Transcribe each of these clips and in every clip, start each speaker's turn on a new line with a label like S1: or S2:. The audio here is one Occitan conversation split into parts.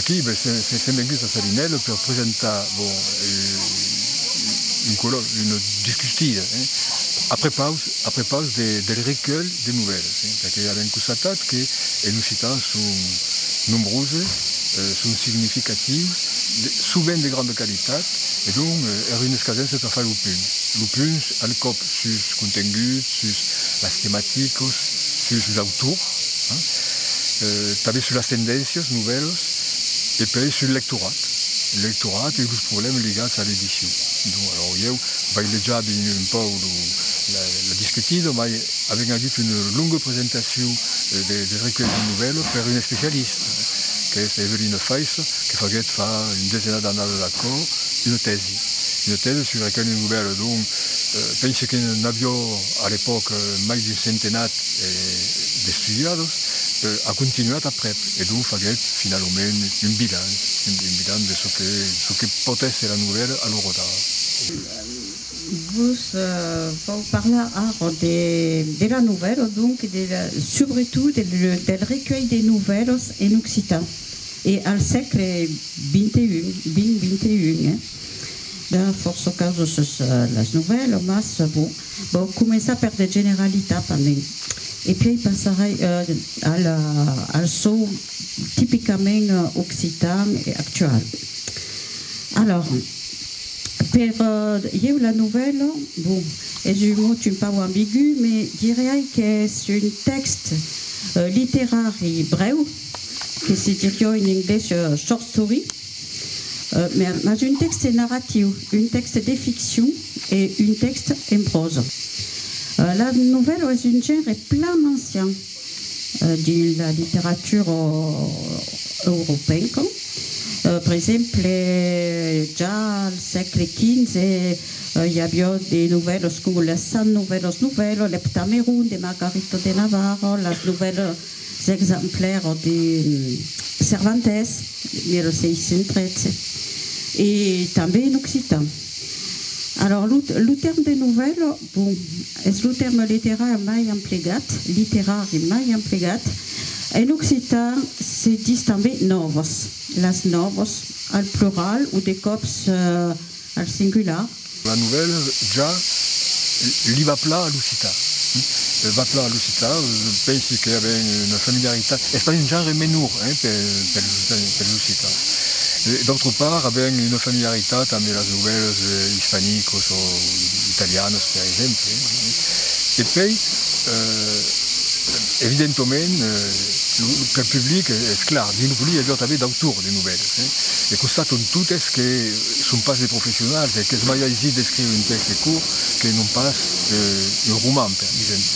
S1: Aquí ben se se mengues a Sarinèl per presentar bon un colòc, una discustida a prepaus a prepaus de del recuelh de novèlas, perque avèm constatat que en occitan son nombroses, son significatius, sovent de granda qualitat e donc er un escasença per far lo punt, lo punt al còp sus contenguts, sus las tematicas, sus los autors, tanben sus las tendéncias, novèlas, e puèi sul lectorat, lo lectorat e los problèmas ligats a l'edicion. Bon, alòu ieu vai lejar ben un pauc lo, la, la discutida, mai avèm agut una longa presentacion de, de recuèlhs de novèlas per una especialista, qu'es Evelina Faissa, que faguèt fa un desenas d'annadas aquò una tèsi. Una tèsa sus aquel nuvèl, donc, pense que n'avió a l'epòca mai d'un centenat d'estudiados, a continuat aprèp, e donc faguèt finalament un bilan, un bilan de çò que, çò que pòt èsser la nuvèla a Lorodà.
S2: Vos vau parlar ara de, de la nuvèla, donc, de la, subretot del recuelh de nuvèlas en occitan. E al sègle xxi, eh? De fòrça causas sus las novèlas, mas bon, vau començar per de generalitats a nen. E pièi passarai al çò tipicament occitan e actual. Alòr, per ieu la novèla, bon, es un mot un pauc ambigu, me diriái qu'es un tèxt literari brèu, Que se dirió en englés short story, mas un tèxte narratiu, un tèxte de ficcion e un tèxte en pròsa. La novèla es un genre plan ancian dins la literatura europeenca, per exemple, ja al sègle XV i avió de novèlas coma las Cent novèlas novèlas, l'Heptameron de Margarita de Navarra, las novèlas. S'exemplar ò de Cervantes, 1613, e tanben en occitan. Alòr, lo lo tèrme de novèla, bon, es lo tèrme literar mai emplegat, literari mai emplegat. En occitan se ditz tanben nòvas, las nòvas al plural o de còps, Al singular. La novèla
S1: ja li va pla a l'occitan. Li va pla a l'occitan, pensi que avèm una familiaritat, es pas un genre menor pels occitans. D'autre part, avèm una familiaritat ambe las novèlas ispanicos o italianas, per exemple. E pei, evidentoment, pel public, es clar, dins lo public i a jo tanben d'autors de novèlas. E constaton totes que. Son pas de professionals, e qu'es mai aisit d'escriure un tèxte curt que non pas un roman, per exemple.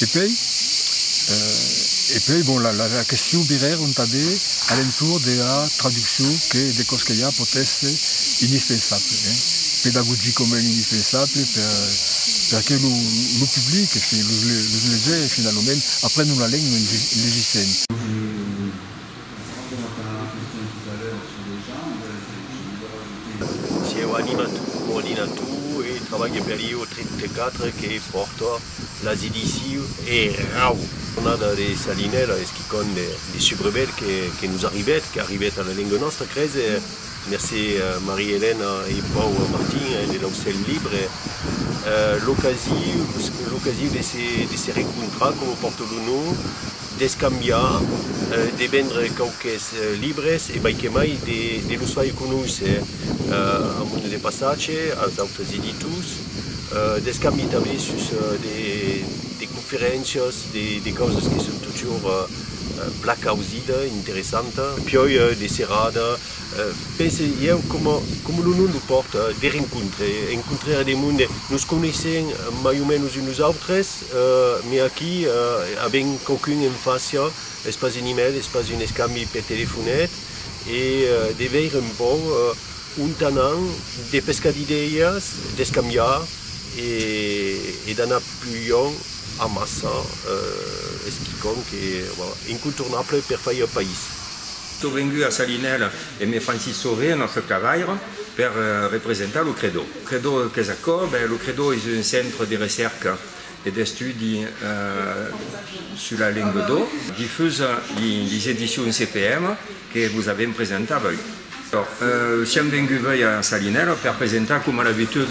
S1: E puèi, e puèi, bon, la, la, la question virer un tanben a l'entorn de la traduccion que de còs que i a pòt èster indispensable, hein, pedagogicament indispensable per, per que lo, lo public, los, los legèrs finalament, aprèn una lenga en legissent.
S3: Sieu anima tu, coordina tu e trabalha per ieu 34 que pòrta las ediciu Erau. Jornada de Salinèla es quicòm de subrevèt que nos arribèt, qu'arribèt a la lenga nòstra, crèis? Mercé Maria Elena e Pau Martin de l'Aucèl Libre. L'ocasiu de se recontrar, coma pòrta lo nom, D'escambiar, de vendre quauques libres e baiquemai de los far conoisser a mon de passatge, als autres editors. D'escambi tanben sus de conferéncias, de causas que son totjorn plan causida, interessanta. Piòi de serada, pense ieu, coma lo nom lo pòrta, de rencontre, encontrar de monde. Nos coneissèm mai o menos uns los autres. Mès aquí avèm quauqu'un en fàcia, es pas un email, es pas un escambi per telefonet, e de veire un pauc ont anam, de pescar d'idèias, d'escambiar e d'anar plus luènh amassa es quicòm que, voilà, incontornable per faire país. Sò vengut
S4: a Salinèla e me fan sissorir nòstre cavaire. Per representar lo Credo. Credo qu'es aquò? Ben, lo Credo es un centre de recèrca e d'estudi sus la lenga d'o. Difusa lis edicions CPM que vos avèm presentar avui. Siam venguts avui a Salinèla per presentar, coma d'abitud,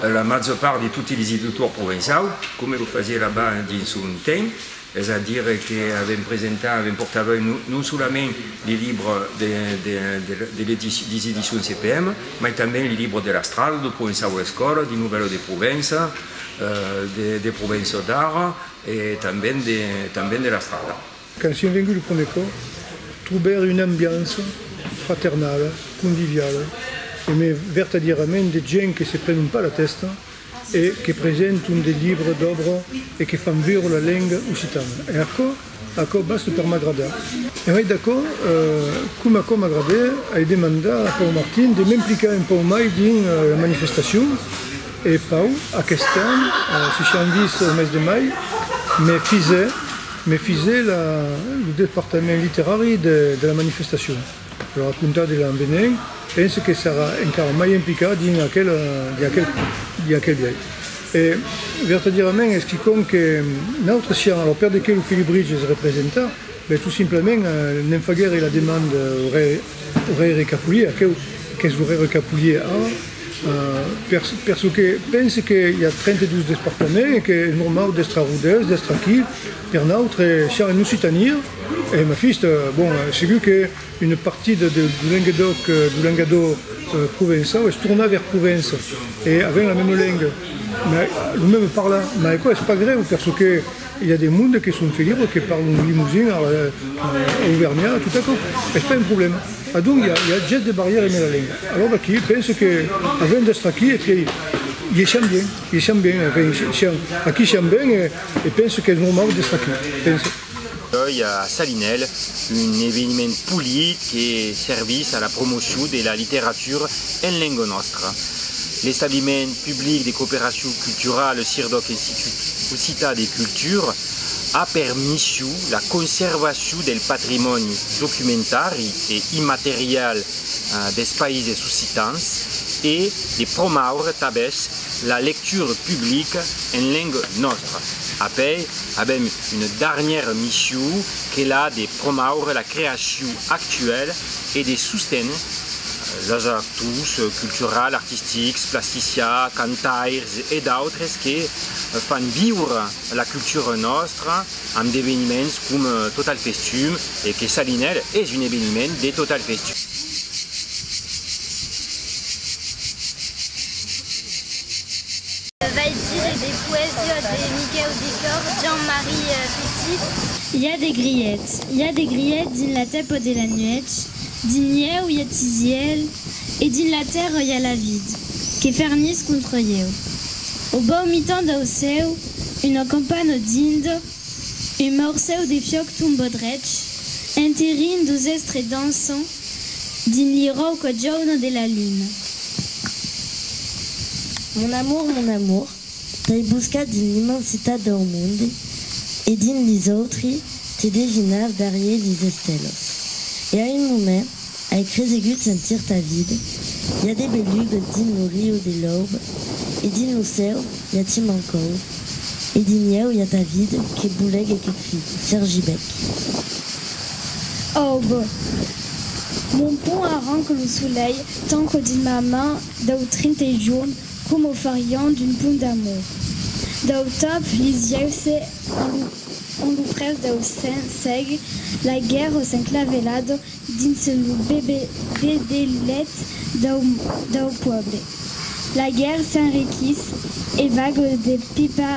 S4: la màger part de totes lis editors provençaus, coma lo fasié là-bas dins son temps. Es a dire que avèm presentat, avèm portava non solament li libre de les Editions CPM, mai tanben li libre de l'Astral, de Provençau a l'Escòla, de Novèlo de Provença, de Provençau d'ara e tanben de l'Astral. Quand sien vengut
S5: lo prumèr còp, trobèr una ambiança fraternala, conviviala e mai vertadierament de gent que se prenon pas la tèsta e que presenton de libres d'òbra e que fan viure la lenga occitana. E aquò, aquò basta per m'agradar. E mai d'aquò, coma aquò m'agrada, ai demandar a Pau Martin de m'implicar un pauc mai dins la manifestacion, e Pau, aqueste an, se siam vist au mes de mai, me fise, me fise la, lo departament literari de la manifestacion. Lo racontar de l'an venent, pense que sarà encara mai implicat dins aquel de aquel biais. E, vertadièrament, es quicòm que nautres siam, alors per de qué lo Felibritge es representar? Ben, tot simplament, ne'n faguère la demanda au Rèire Capulier, aqueu qu'es lo Rèire Capulier ara, per çò que pense que i a 32 despartaments e que es normau d'èstre arrodèus, d'èstre aquí, Per nautre, siam en Occitània, e ma fista, bon, segur que una partida de Lenguedoc, du lengadó provençau, es tornar vers Provença, e avèm la mema lenga, ma lo meme parlar, ma aquò es pas grèu, perçò que i a de monde que son felibres, que parlon limousin, auvergnat, tot aquò, es pas un problèma. Adonc, i a ges de barrièra eme la lenga. Alòr d'aquí, penso que avèm d'èstre aquí, e que i siam bien, i siam bien, enfin, siam, aquí siam ben, e. E penso qu'es normau d'estar aquí, penso. Doi
S6: a Salinèl, un eveniment polit que servís a la promocion de la literatura en lenga nòstra. L'establiment public de cooperacion culturala Sirdoc Institut Occitan de Cultura a per mission la conservacion del patrimòni documentari e immaterial des Païses Occitans e de promaure tabèth La lecture publique en lengue nòstra. Apai, avèm una darnièra missiu qu'es la de promaure la creaciu actuèl e de sosténer los actors culturals, artistics, plasticià, cantairs e d'autres que fan viure la cultura nòstra, amb d'eveniments com Total Festum e que Salinèr es un eveniment de Total Festum. Vai dire
S7: de poesia de Miquèu Decor, Jean Marie Petit. I a de
S8: grièts, i a de grièts dins la tèpa de la nuèch, dins ieu i a tisièl, E dins la tèrra i a la vid que fernís contra ieu. Au bau mitan dau cèu una campana dind un maurcèu de fiòc tomba drech enterrin dos èstre dançant dins li rauca jauna de la luna.
S9: Mon amour, mon amour. T'ai buscat dins l'immensitat dau monde e dins lis autri te devinava darrier lis estelos. E a un moment ai cresegut sentir ta vid, i a de belugues dins lo riu de l'aube e dins lo cèu i a ti mancau e dins ieu i a ta vid que boulèc e que crit, Sergi Bec.
S8: Aube. Mon pont arranque lo solelh, tanco dins ma man dau trente jorn Com o farián d'un pont d'amor. Dau tap li sièuse en lo près dau sen sèg, laiguèrós enclavelado dins lo bedelèt dau puèble. Laiguèr s'enriquís e vagos de pipa